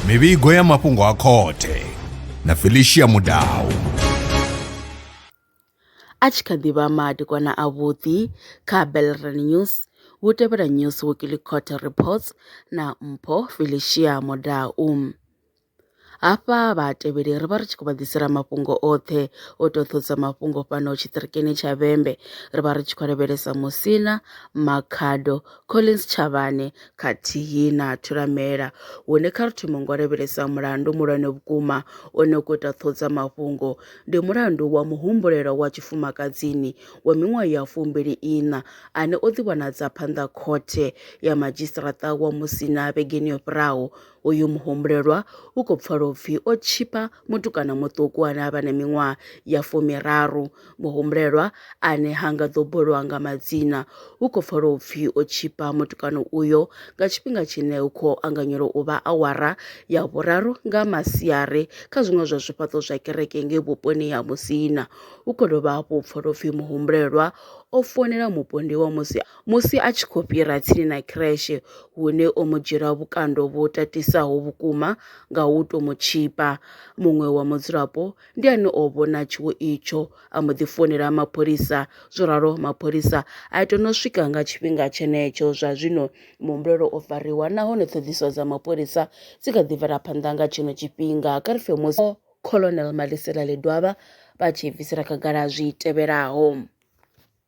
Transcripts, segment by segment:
mivhigo ya mafhungo a khothe na felicia mudau a tshi kha ḓi vha madekwana avhuḓi kha belran news hu tevhela news weekly court reports na mpho felicia mudau Hafha vhatevheli ri vha ri tshi khou vha ḓisela mafhungo oṱhe o tou ṱhodza mafhungo fhano tshiṱirikini tsha Vhembe ri vha ri tshi khou lavhelesa Musina, Makhado, Collins Tshavhane khathihi na Thulamela hune kha ri thome ngo lavhelesa mulandu mulwane vhukuma one u khou ita ṱhodza mafhungo ndi mulandu wa muhumbulelo wa tshifumakadzini wa miṅwaha ya fumbili iṋa ane o ḓivhonadza phanḓa khothe ya madzhisiṱaraṱa wa Musina vhegeni yo fhiraho Uyu muhumbulelwa u khou pfala u pfi o tshipa mutukana muṱuku ane a vha na miṅwaha ya fumiraru. Muhumbulelwa ane ha nga ḓo bulwa nga madzina u khou pfala u pfi o tshipa mutukana uyo nga tshifhinga tshine hu khou anganyelwa u vha awara ya vhuraru nga masiari kha zwiṅwe zwa zwifhaṱo zwa kereke ngei vhuponi ha Musina. Hu khou dovha hafhu u pfala u pfi muhumbulelwa o founela mupondiwa musi Musi a tshi khou fhira tsini na Kreshe, hune o mu dzhielwa vhukando vhu tatisaho vhukuma nga u tou mu tshipa, muṅwe wa mudzulapo ndi ane o vhona tshiwo itsho a mbo ḓi founela mapholisa. Zworalo mapholisa a itwa no swika nga tshifhinga tshenetsho. Zwa zwino muhumbulelwa o fariwa nahone ṱhoḓisiso dza mapholisa dzi kha ḓi bvela phanḓa nga tshino tshifhinga. Kha ri pfe musi Colonel Malisela Ledwaba vha tshi bvisela khagala zwi tevhelaho.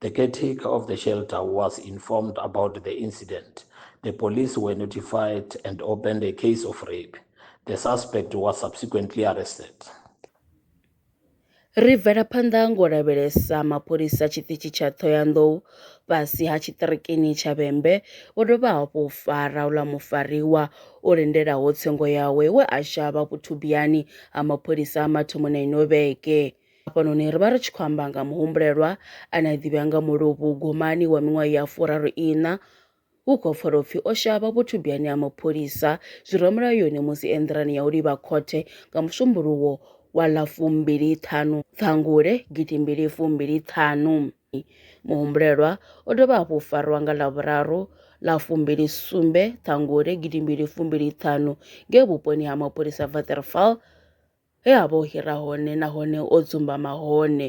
The caretaker of the shelter was informed about the incident. The police were notified and opened a case of rape. The suspect was subsequently arrested. Ri bvela phanḓa ngo lavhelesa mapholisa tshiṱitshi tsha Thohoyandou fhasi ha tshiṱirikini tsha Vhembe vho dovha hafhu u fara uḽa mufariwa o lindelaho tsengo yawe we a shavha vhuthubiyani ha mapholisa a mathomoni a ino vhege. Hafhanoni ri vha ri tshi khou amba nga muhumbulelwa ane a ḓivhea nga muluvhu gomani wa miṅwaha ya furaru iṋa hu khou pfala upfi o shavha vhuthubyani ha mapholisa zwi re mulayoni musi e nḓilani ya u livha khothe nga musumbuluwo wa ḽa fumbili ṱhanu ṱhangule gidimbili fumbili ṱhanu muhumbulelwa o dovha hafhu u farwa nga ḽa vhuraru ḽa fumbili sumbe ṱhangule gidimbili fumbili ṱhanu nge vhuponi ha mapholisa vaterfal he a vha o hira hone nahone o dzumbama hone.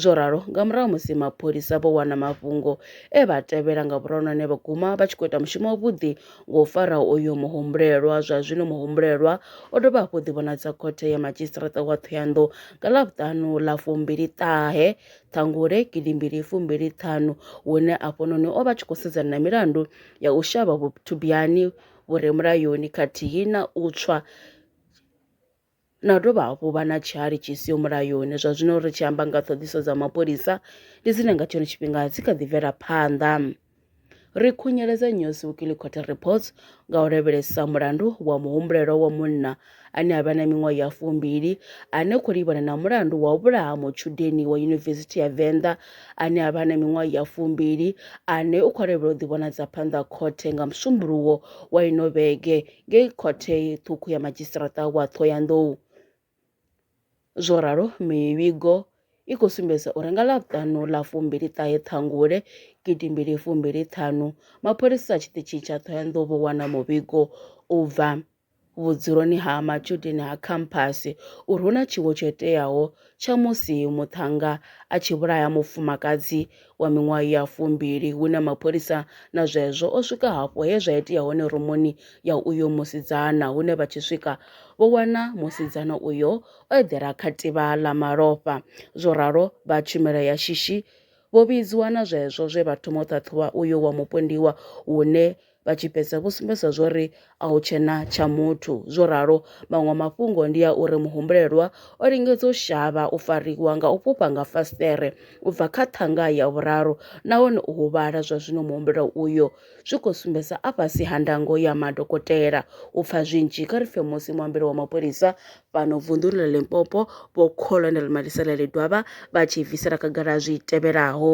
Zwo ralo, nga murahu ha musi mapholisa vho wana mafhungo e vha tevhela nga vhuronwane vha guma vha tshi khou ita mushumo wavhuḓi nga u fara uyo muhumbulelwa. Zwa zwino muhumbulelwa o dovha hafhu u ḓivhonadza khothe ya madzhisiṱiraṱa wa Thohoyandou nga Ḽavhuṱanu ḽa fumbili ṱahe Ṱhangule gidimbili fumbili ṱhanu, hune afhanoni o vha tshi khou sedzana na milandu ya u shavha vhuthubiyani vhu re mulayoni khathihi na u tswa na u dovha hafhu vha na tshihali tshi siho mulayoni zwa zwino ri tshi amba nga ṱhoḓiso dza mapholisa ndi dzine nga tshone tshifhinga dzi kha ḓi bvela phanḓa ri khunyeledza News Weekly Court Reports nga u lavhelesa mulandu wa muhumbulelwa wa munna ane a vha na miṅwaha ya fumbili ane khou livhana na mulandu wa u vhulaha mutshudeni wa yunivesithi ya Venḓa ane a vha na miṅwaha ya fumbili ane u khou lavhelela u ḓivhonadza phanḓa khothe nga musumbuluwo wa ino vhege ngei khothe ṱhukhu ya madzhisiṱaraṱa wa Ṱhohoyanḓou. Zwo ralo, mivhigo i khou sumbedza uri nga Ḽavhuṱanu ḽa fumbili ṱahe Ṱhangule gidi mbili fumbili ṱhanu, mapholisa a tshiṱitshi tsha Ṱhohoyanḓou vho wana muvhigo u bva vhudzuloni ha matshudeni ha khamphasi uri hu na tshiwo tsho iteaho tsha musi muṱhannga a tshi vhulaya mufumakadzi wa miṅwaha ya fumbili hune mapholisa na zwezwo o swika hafho he zwa itea hone rumuni ya uyo musidzana hune vha tshi swika vho wana musidzana uyo o eḓela kha tivha ḽa malofha zwo ralo vha tshumelo ya shishi vho vhidziwa na zwezwo zwe vha thoma u ṱhaṱhuvha uyo wa mupondiwa hune vha tshi fhedza vho sumbedza zwori a hu tshena tsha muthu. Zwo ralo, maṅwe mafhungo ndi a uri muhumbulelwa o lingedza u shavha u fariwa nga u fhufha nga fasiṱere u bva kha ṱhanga ya vhuraru nahone u huvhala zwa zwino muhumbulelwa uyo zwi khou sumbedza a fhasi ha ndango ya madokotela. U pfa zwinzhi, kha ri pfe musi muambeli wa mapholisa fhano vunḓuni ḽa Limpopo, Vho Colonel Maliselele Dwaba vha tshi bvisela khagala zwi tevhelaho.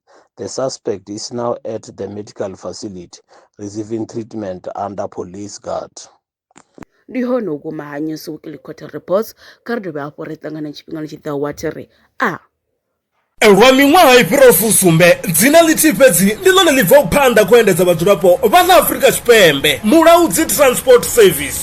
The suspect is now at the medical facility receiving treatment under police guard. ndi hone u guma ha news weekly quarter reports kha ri dovhe hafhu ri ṱangana tshifhingani tshi ḓaho wa thiri a lwa miṅwaha i fhiraho fusumbe dzina ḽithihi fhedzi ndi ḽone ḽi bvaho phanḓa khou endedza vhadzulapo vha ḽa afurika tshipembe mulaudzi transport service